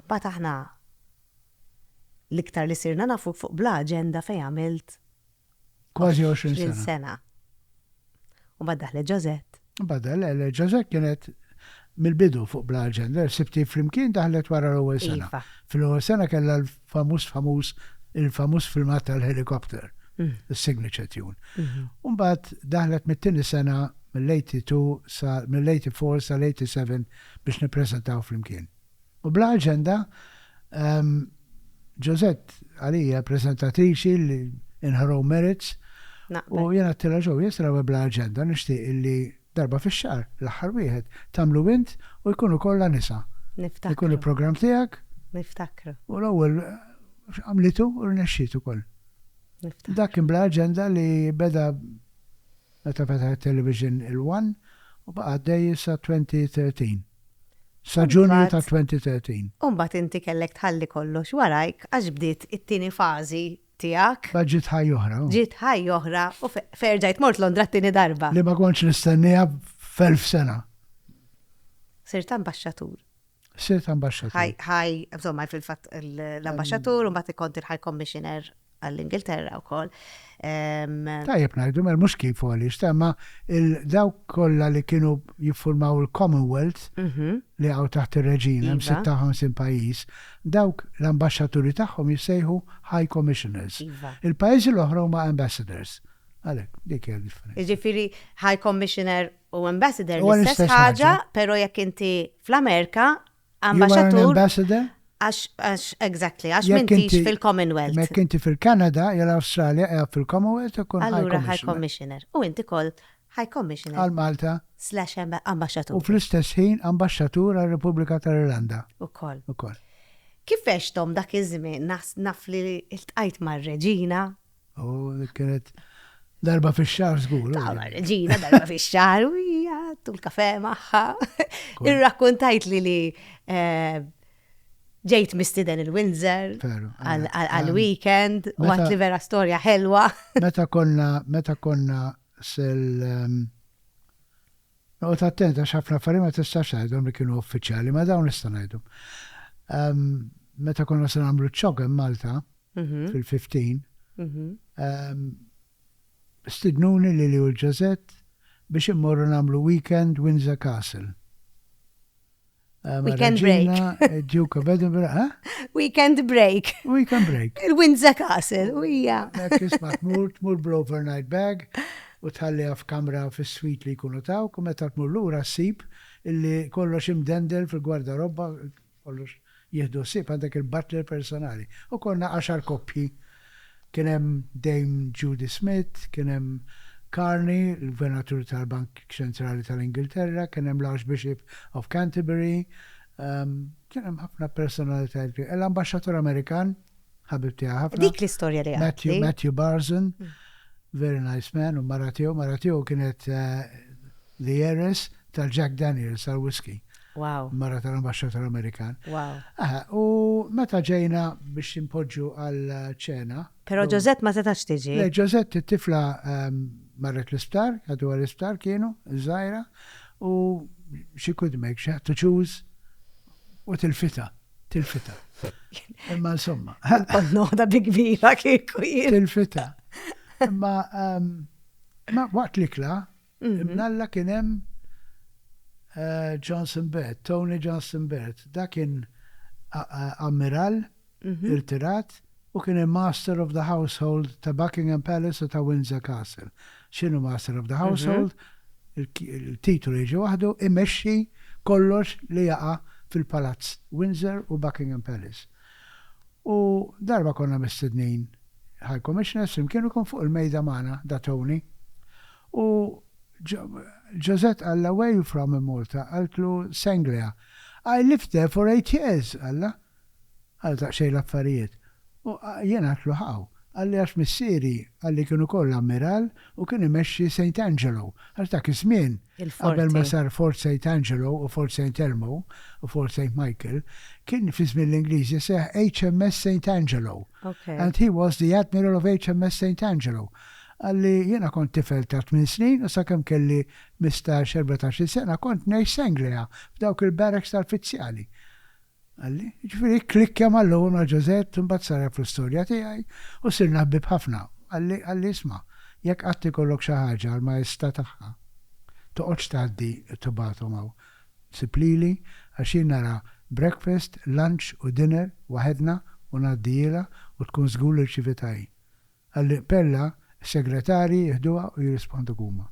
Mbagħad aħna l-iktar li sirna nafuk fuq bla aġenda fejn għamilt Kważi għoxrin sena. 20 sena. U mbagħad daħlet Ġożett. Mbagħad daħlet, le, Ġożett kienet mill-bidu fuq bla aġenda, sibtih flimkien daħlet wara l-ewwel sena. Iva. Fil-ewwel sena kellha famuż famuż il-famuż filmat tal-helikopter, is-signature tune. Umbagħad daħlet mit-tieni sena mill-82 sa mill-84 sal-87 biex nippreżentaw flimkien. U bla aġenda, Ġużett għalija preżentatriċi in her own merits u jiena għattilha ġew jesra bla aġenda nixtieq illi Darba fix-xahar, l-aħħar wieħed, tagħmlu int u jkunu kollha nisa. Niftakru. Ikun il-programm tiegħek. Niftakru. U l-ewwel għamlitu u rnexxiet ukoll. Niftakru. Dak kien bla aġenda li beda meta fetaħet television il-one u baqa' għaddej sa 2013. Sa Ġunju ta' 2013. U mbagħad inti kellek tħalli kollox warajk għax bdiet it-tieni fażi tiegħek. Mbagħad ġiet ħajja oħra. Ġiet ħajja oħra u ferġajt mort Londra t-tieni darba. Li ma kontx nistenniha f'elf sena. Sirt ambaxxatur. Sirt ambaxxatur. Ħaj, ħaj, insomma, fil-fatt l-ambaxxatur u mbagħad ikont il-ħaj commissioner għall-Ingilterra u koll. Tajjeb najdu, mer mux kif għalix, tamma il-daw kolla li kienu jiffurmaw il-Commonwealth mhm. li għaw taħt il-reġina, 56 pajis, Dawk l-ambaxxaturi tagħhom jissejħu High Commissioners. Iva. Il-pajjiżi l-oħra huma Ambassadors. Għalhekk, dik hija d-differenza. Jiġifieri High Commissioner u Ambassador Huwa l-istess l-istess ħaġa, ħaġa. però jekk inti fl-Amerika, You are an ambaxxatur ambassador? għax għax exactly, għax Jekk m'intix inti- fil-Commonwealth. Jekk inti fil-Kanada jew l-Awstralja qiegħed fil-Commonwealth ikun High Allura High Commissioner. Commissioner. U inti koll High Commissioner. Għal Malta. Slash Ambaxxatur. U fl-istess ħin Ambaxxatur għar-Repubblika tal-Irlanda. Ukoll. Ukoll. Kif għexthom dak iż-żmien naf li ltqajt mar-Reġina. U dik kienet darba fix-xahar żgur. Tara mar-Reġina darba fix-xahar u hija tul kafè magħha. Irrakkuntajtli li eh, ġejt mistiden il-Windsor għal-weekend u għat li vera storja ħelwa. Meta konna, meta konna Sel Noqgħod attent għax ħafna affarijiet ma tistax tgħidhom li kienu uffiċjali, ma dawn nista' ngħidhom. Meta konna se nagħmlu ċ-ċog hemm Malta mhm. fil-15, mhm. stidnuni li li u l-ġazet biex immorru nagħmlu weekend Windsor Castle. Ah, Weekend break. Eh, Duke of Edinburgh, ha? Eh? Weekend break. Weekend break. Il-Windsor Castle, u hija. Kisma tmur, tmur bl-overnight bag u tħalliha f'kamra fis-swit li jkunu taw, u meta tmur lura ssib illi kollox imdendel fil-gwarda robba, kollox jihdu ssib għandek il-butler personali. U konna għaxar koppji Kien hemm Dame Judy Smith, kien hemm Carney, il-Gvernatur tal-Bank Ċentrali tal-Ingilterra, kien hemm l-Archbishop of Canterbury, kien hemm ħafna personalitajiet kbira. L-Ambaxxatur Amerikan, ħabib tiegħi ħafna. Dik l-istorja li għadtli. Matthew Barzun, very nice man, u mara tiegħu, mara tiegħu kienet The Heiress tal-Jack Daniels tal-Whisky. Wow. Mara tal-Ambaxxatur Amerikan. Wow. Aha, u meta ġejna biex inpoġġu għal ċena. Però Ġożett ma setax tiġi. Le, Ġożett it-tifla ehm, marret l-isptar, għadu għal-isptar kienu, żgħira, u she could make, she had to choose, u tilfita, tilfita. Imma insomma. Noħda bi kbira kieku jien. Tilfita. Imma ehm, ma waqt l-ikla, Ibn Alla kien hemm Johnson Baird, Tony Johnson Baird. Dak kien ammiral irtirat u kien il-Master of the Household ta' Buckingham Palace u ta' Windsor Castle. X'inhu Master of the Household? Il-titolu jiġi waħdu, imexxi kollox li jaqa' fil-Palazz Windsor u Buckingham Palace. U darba konna mistednin High Commissioners flimkien u kien fuq il-mejda magħna da Tony. U Josette qallha where you from in Malta? Qaltlu Sanglia. I lived there for eight years, qallha. Għal daqsxejn l-affarijiet. U jien għaltlu how? Qalli għax missieri qalli kien ukoll ammiral u kien imexxi Saint Angelo, għax dak iż-żmien, qabel ma sar Fort Saint Angelo u Fort Saint Elmo u Fort Saint Michael, kien fi żmien l-Ingliżi jseħħ HMS Saint Angelo and he was the admiral of HMS Saint Angelo. Qal li, Jiena kont tifel ta' tmien snin u sakemm kelli mistax, erbatax-il sena kont ngħix s'Anglia f'dawk il-barracks tal-fizzjali. Qal li, Jiġifieri kklikkja mal-ewwel ma' Josette u mbagħad saraf l-istorja tiegħi u sirna ħbieb ħafna. Qal li, qal li, Isma', jekk qatt ikollok xi ħaġa għall-maestà tagħha, toqgħodx tgħaddi u tibgħathom hawn. Sib lili għax jien nara breakfast, lunch u dinner waħedna u ngħaddihielha u tkun żgur li rċivitha hi. Għall-Pella, is-segretarji jiħduha u jirrisponduk huma.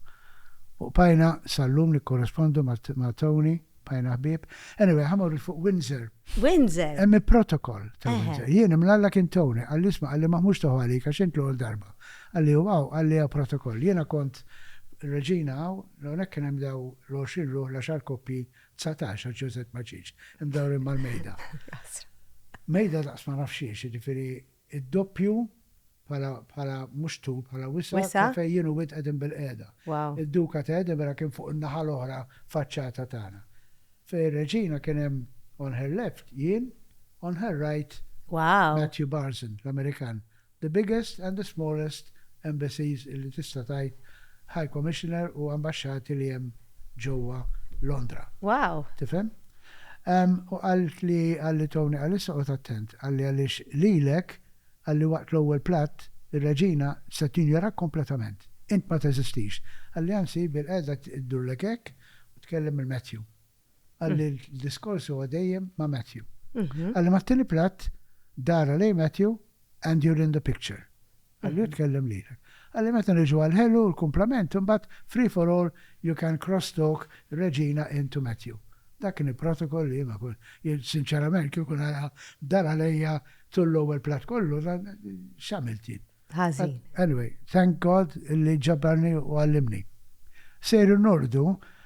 U qbajna sal-lum nikkorrespondu ma' Tony, bqajna ħbieb. Anyway, ħa morru fuq Windsor. Windsor! Hemm il-protokoll ta' Windsor. Jien imlalla kien Tony, qalli isma' qalli ma ħmux toħu għalik għax int l-ewwel darba. Qalli hu hawn, qalli hawn protokoll. Jiena kont reġina hawn, hawnhekk kien hemm daw l-għoxrin ruħ, l-għaxar koppji, dsatax għax Ġużett ma ġiex, imdawrin mal-mejda. Mejda daqs ma nafx xiex, jiġifieri. Id-doppju bħala bħala mhux tul bħala wisa' Wisa'? ta' fejn jien u int qegħdin bilqiegħda. Wow. Id-Duka ta' Edinburgh kien fuq in-naħa l-oħra faċċata tagħna. Fejn ir-Reġina kien hemm on her left jien, on her right Wow. Matthew Barson, l-Amerikan. The biggest and the smallest embassies illi tista' tgħid High Commissioner u ambaxxati li hemm. ġewwa Londra. Wow! Tifhem? U qalt li qalli Tony qal issa qgħod attent, qalli għaliex lilek, qalli waqt l-ewwel platt, ir-Reġina se tinjorak kompletament. Int ma teżistix. Qalli anzi bilqiegħda ddurlek hekk u tkellem lil Matthew. Qalli l-diskors huwa dejjem ma' Matthew. Qalli mat-tieni platt dara lejn Matthew and you're in the picture. Qalli hu tkellem lilek. Qalli meta niġu għall-ħelu u l-kumplament imbagħad free for all you can cross talk Regina in to Matthew. Dak kien il-protocol li jien ma kont, jien sinċerament kieku nara dar għalejja tul l-ewwel platt kollu x'għamilt jien? Ħażin. Anyway, thank God li ġabbarni u għallimni. Sejrin norqdu,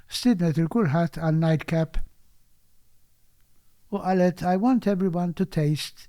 stiednet lil kulħadd għal night cap u qalet I want everyone to taste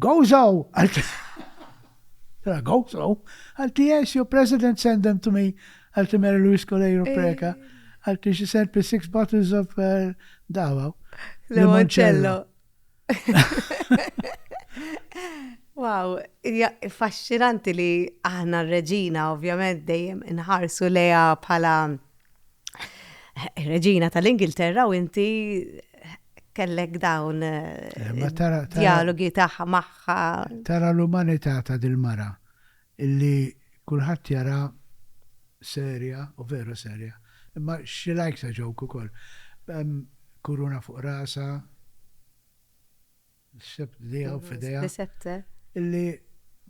Go Zhou! Go Zhou! Għalti yes, your president send them to me. Għalti Mary Louise Coleiro eh. Preca. Għalti she sent me six bottles of eh, dawa. Limoncello. Wow, faxxinanti li aħna r-reġina ovvjament dejjem inħarsu leja bħala reġina tal-Ingilterra u inti kellek dawn dialogi tagħha magħha. Tara l-umanità ta' dil-mara illi kulħadd jara serja u veru serja. Imma she likes a joke ukoll. Kuruna fuq rasha, s-sebt b'dejha u f'idejha. Bisette. Illi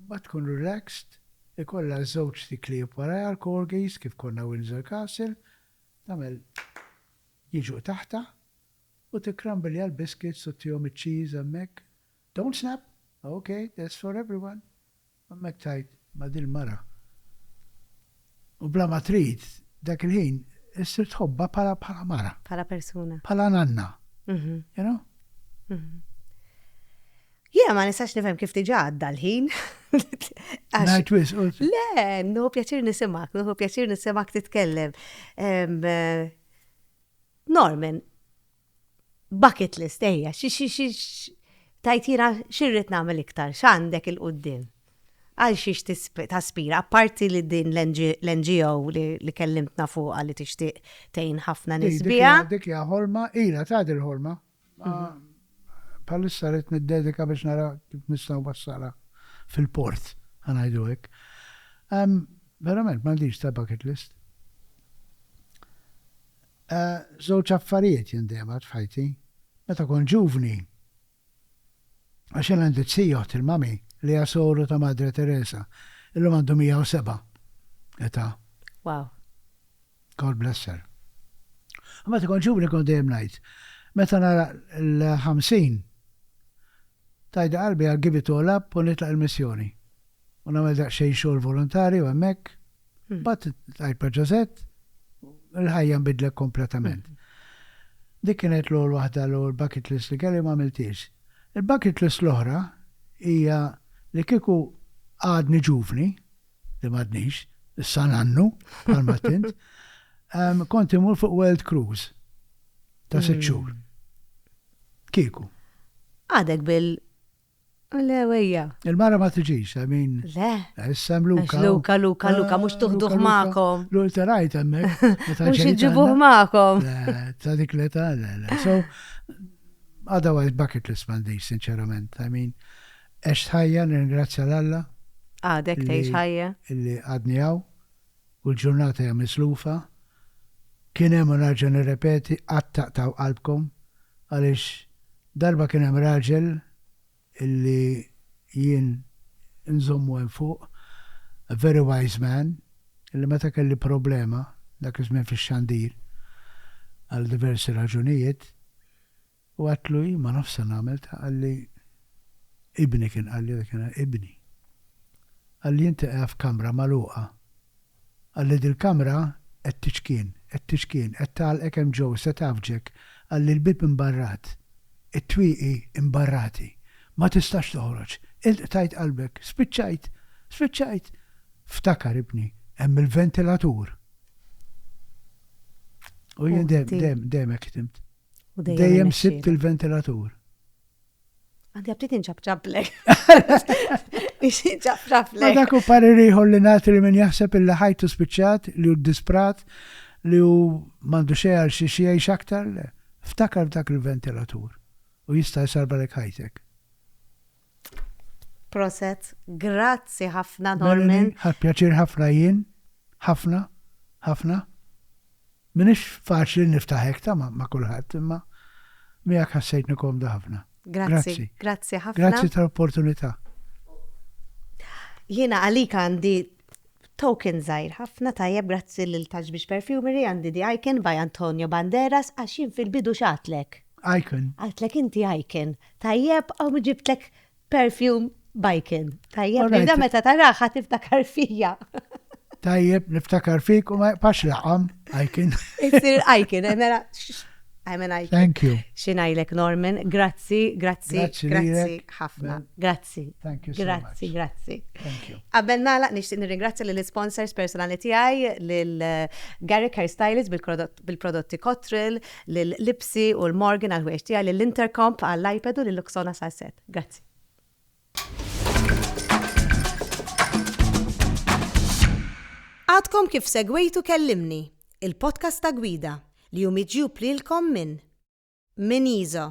ma tkun relaxed, ikollha żewġ tiklieb warajha l-corgis kif konna Windsor Castle, tagħmel jiġu taħtha u tikkrambilja l-biscuits u tihom iċ-cheese hemmhekk, don't snap, ok, that's for everyone, u hemmhekk tgħid ma' dil-mara u bla ma trid dak il-ħin issir tħobbha bħala bħala mara. Bħala persuna. Bħala nanna. You know? Jiena ma nistax nifhem kif diġà għadda l-ħin. Ngħid wisq. Le, nħu pjaċir nisimak, nħu pjaċir nisimak titkellem. Norman, Bucket list, ejja, xi xi xi tajt jiena x'irrid nagħmel iktar, x'għandek 'il quddiem? Għal xiex taspira, apparti li din l-NGO li kellimtna fuqha li tixtieq tgħin ħafna nies biha. Dik hija ħolma, ilha tgħaddi l-ħolma, Ma bħalissa rrid niddedika biex nara kif nista' nwassalha fil-port, ħa ngħidu hekk. Verament m'għandix ta' bucket list. Żewġ affarijiet jien dejjem għedt f'ħajti. Meta kont ġuvni, għax jien għandi t-tija oħt il-mami li hija soru ta' Madre Teresa, illum għandu 107 età. Wow. God bless her. Meta kont ġuvni kont dejjem ngħid, meta nara l-50, tajda qalbi I'll give it all up u nitlaq il-missjoni. U nagħmel daqsxejn xogħol volontarju hemmhekk. Mbagħad tqajt ma' Ġożett, il-ħajja nbidlet kompletament. Dik kienet l-ewwel waħda l-ewwel bucket list li kelli u ma għamiltiex. Il-bucket list l-oħra hija li kieku għadni ġuvni, li m'għadnix, issa nannu, bħal m'għedt int, kont imur fuq world cruise ta' sitt xhur. Kieku. Għadek bil Le, wejja. Il-mara ma tiġix, I mean. Le. Issa Luka. Luka, Luka, Luka, mux tuħduħ maħkom. Luka rajt emmek. Mux iġibuħ maħkom. Ta' dik le ta' le, le. So, otherwise bucket list mandi, sinċerament. I mean, Għext ħajja, nirringrazzja 'l Alla. Għadek tgħix ħajja. Li għadni hawn u l-ġurnata hija mislufa. Kien hemm u nerġa' nirrepeti qatt taqtgħu qalbkom għaliex darba kien hemm raġel li jien inżommu hemm fuq, a very wise man, li meta kelli problema dak iż-żmien fix-xandir għal diversi raġunijiet, U għedtlu, Jien ma nafx se nagħmel ta' qalli ibni kien qalli dak inhar, ibni. Qalli inti qiegħed f'kamra magħluqa. Qalli dil-kamra qed tiċkien, qed tiċkien, qed tagħlqek hemm ġeww, se tgħaffġek, qalli l-bieb imbarrat, it-twieqi imbarrati. Ma tistax toħroġ. Int qtajt qalbek, spiċċajt, spiċċajt. Ftakar ibni, hemm il-ventilatur. U jien dejjem, dejjem, dejjem hekk ħdimt. U dejjem Dejjem sibt irnexxielek. il-ventilatur. Għandi għabtit inċabċablek. Ma Inċabċablek. dak u parir ieħor li nagħti li min jaħseb illi ħajtu spiċċat, li hu disprat, li hu m'għandu xejn għal xiex jgħix aktar, le. Ftakar f'dak il-ventilatur u jista' jsarbalek ħajtek. Proset, grazzi ħafna Norman. Melanie, ħadt pjaċir ħafna jien, ħafna, ħafna. M'iniex faċli niftaħ hekk ta' ma' kulħadd imma miegħek ħassejtni komda ħafna. Grazzi, grazzi ħafna. Grazzi tal-opportunità. Jiena għalik għandi Token żgħir ħafna tajjeb grazzi lil Touch Beach Perfumery għandi The Icon by Antonio Banderas għax jien fil-bidu x'għadtlek? Icon. Għadtlek inti Icon. Tajjeb hawn ġibtlek perfume b'Icon. Tajjeb li da meta tarah ħa tiftakar fija. Tajjeb niftakar fik u ma jqpax laqam Icon. Isir Icon, mela I'm an Icon. Thank you. Xinajlek Norman, grazzi, grazzi, grazzi ħafna. Grazzi. Grazzi. Thank you so much. Grazzi, grazzi. Thank you. Qabel nagħlaq nixtieq nirringrazzja lil sponsors personali tiegħi lil Garrick Hair Stylist bil-prodotti Cotril, lil Lipsi u l-Morgan għal ħwejġ tiegħi lil Intercomp għall iPad u lil Luxona Salset. Grazzi. Għadkom kif segwejtu kellimni, il-podcast ta' gwida li jum iġjub lilkom minn Minizo.